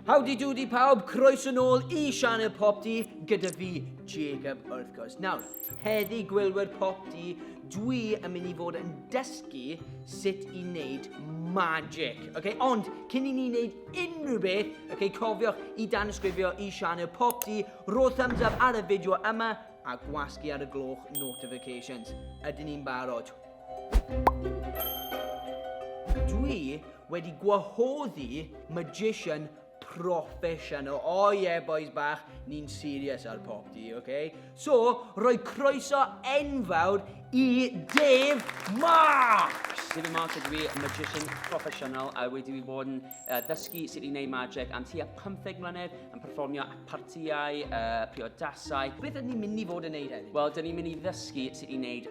Howdy doody pawb, croeso nôl i Sianel Pop Di gyda fi, Jacob, wrth gwrs. Nawr, heddi gwylwyr Pop Di, dwi yn mynd i fod yn dysgu sut i wneud magic. Okay? Ond, cyn i ni wneud unrhyw beth, okay, cofiwch i dan ysgrifio i Sianel Pop Di, rho thumbs up ar y fideo yma a gwasgu ar y gloch notifications. Ydyn ni'n barod? Dwi wedi gwahoddi magician proffesiynol. O oh, ie, yeah, boys bach, ni'n serious ar pop di, oce? Okay? So, rhoi croeso enfawr i Dave Marks! Dave Marks ydw i, magician proffesiynol, a wedi fi bod yn uh, ddysgu sut i wneud magic am tua 15 mlynedd, yn performio at partiau, uh, priodasau. Beth ydyn ni'n mynd i fod yn neud hynny? Wel, dyn ni'n mynd i ddysgu sut i wneud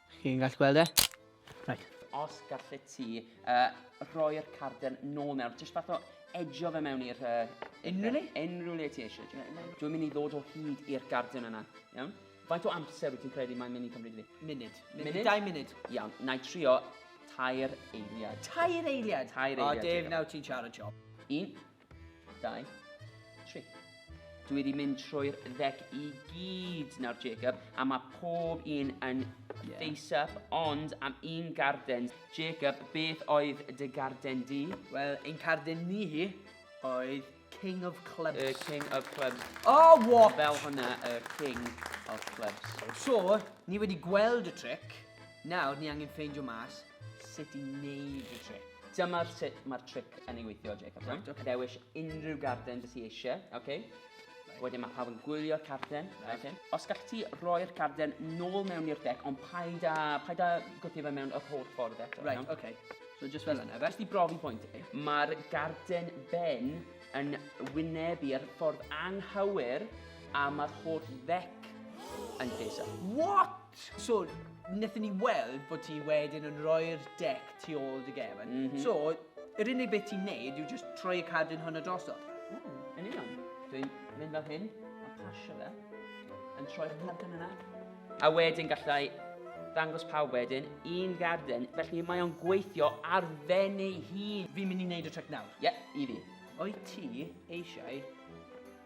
Chi'n gallu gweld e? Right. Os gallet ti uh, rhoi'r carden nôl mewn, jyst fath o edgio fe mewn i'r... Uh, unrhyw le? Unrhyw le ti eisiau. Dwi'n mynd i ddod o hyd i'r garden yna, iawn? Faint o amser wyt ti'n credu mae'n mynd i cymryd fi? Munud. Munud? Dau munud. Iawn, na i trio tair eiliad. Tair eiliad? Tair eiliad. O, Dave, nawr ti'n siarad siop. Un, Dau. Tri. Dwi wedi mynd trwy'r ddec i gyd nawr, Jacob, a mae pob un yn yeah. face-up, ond am un garden. Jacob, beth oedd dy garden di? Wel, ein carden ni hi oedd King of Clubs. Y King of Clubs. Oh, what? Fel hwnna, y King of Clubs. So, ni wedi gweld y trick. Nawr, ni angen ffeindio mas sut i wneud y tric. Dyma sut mae'r tric yn ei weithio, Jacob. Right, okay. Dewis unrhyw garden dys i eisiau, okay? Right. Wedyn mae pawb yn gwylio'r carden. Right. Okay. Os gallwch ti roi'r carden nôl mewn i'r deck, ond paid a, paid a gwthio fe mewn yr holl ffordd eto. Right, iawn? okay. So just fel yna, fe? Jyst i brofi pwynt. Mae'r garden ben yn wynebu'r ffordd anghywir a mae'r holl ddec yn lleisio. What? So, wnaethon ni weld bod ti wedyn yn rhoi'r deck tu ôl dy gefn. Mm -hmm. So, yr unig beth ti'n neud yw just troi y cadwyn hwn o drosodd. Mm, yn union. Dwi'n mynd fel hyn, a pasio fe, yn troi'r cadwyn yna. A wedyn gallai ddangos pawb wedyn un garden, felly mae o'n gweithio ar fen ei hun. Fi'n mynd i wneud y trick nawr. Ie, yeah, i fi. O'i ti eisiau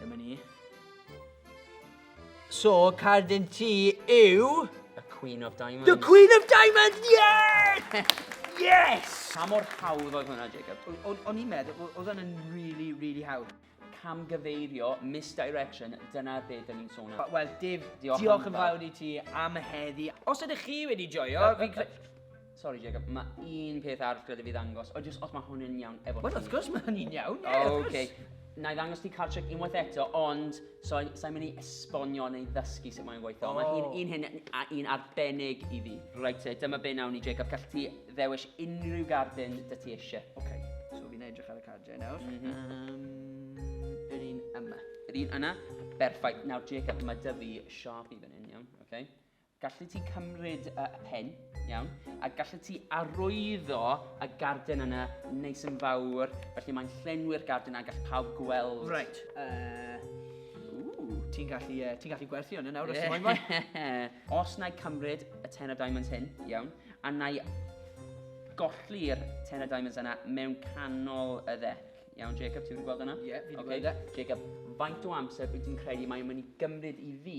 Dyma ni. So, cardyn ti yw... The Queen of Diamonds. The Queen of Diamonds, yes! yes! Pa mor hawdd oedd hwnna, Jacob? O'n i'n meddwl, oedd hwnna'n really, really hawdd camgyfeirio, misdirection, dyna be dyn ni'n sôn am. Wel, Dave, diolch, diolch yn fawr i ti am y heddi. Os ydych chi wedi joio, fi... Sorry Jacob, mae un peth arall gyda fi ddangos, o jyst os mae hwn yn iawn efo Wel, wrth gwrs mae hynny'n iawn, ie, oh, wrth gwrs. Okay. Na i ddangos ti card trick unwaith eto, ond so, sa'n mynd i esbonio neu ddysgu sut mae'n gweithio. Oh. Mae un, un hyn a un arbennig i fi. Reit te, dyma be nawn ni, Jacob. Gallu ti ddewis unrhyw gardyn dy ti eisiau. Oce, okay. so fi'n edrych ar y cardiau nawr. Mm -hmm. um, yr un yma. Yr un yna? Berffaith. Nawr, Jacob, mae dy fi sharp i fan hyn, iawn? Okay. Gallet ti cymryd y pen, iawn, a gallet ti arwyddo y garden yna neis yn fawr, felly mae'n llenwi'r garden a gall pawb gweld. Right, uh, ti'n gallu, uh, ti gallu gwerthu hwn yn awr os ti'n moyn. Os na i cymryd y ten o diamonds hyn, iawn, a na i golli'r ten o diamonds yna mewn canol y ddec. Iawn, Jacob, ti'n gweld yna? Ie, yeah, fi'n okay. gweld e. Jacob, faint o amser wyt ti'n credu mae'n mynd i gymryd i fi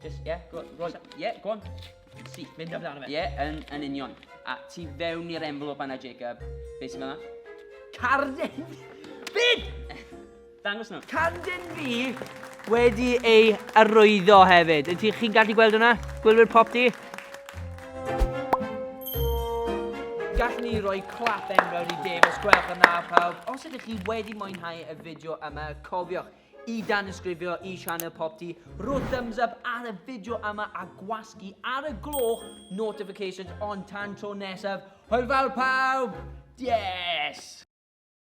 Just, yeah, go, go on. Yeah, go on. Si. Mynd amdano fe. Yeah, yn, yn union. A ti fewn i'r envelope anna, Jacob. Be sy'n mynd Carden! Byd! Dangos nhw. Carden fi wedi ei arwyddo hefyd. Ydych chi'n gallu gweld hwnna? Gwylwyr pop di? Gallwn ni roi clap enfawr i Dave os gwelwch yn dda pawb. Os ydych chi wedi mwynhau y fideo yma, cofiwch, I danysgrifio i sianel Popty, rho thumbs up ar y fideo yma a gwasgu ar y gloch notifications ond tan tro nesaf, hwyl fawr pawb! Yes!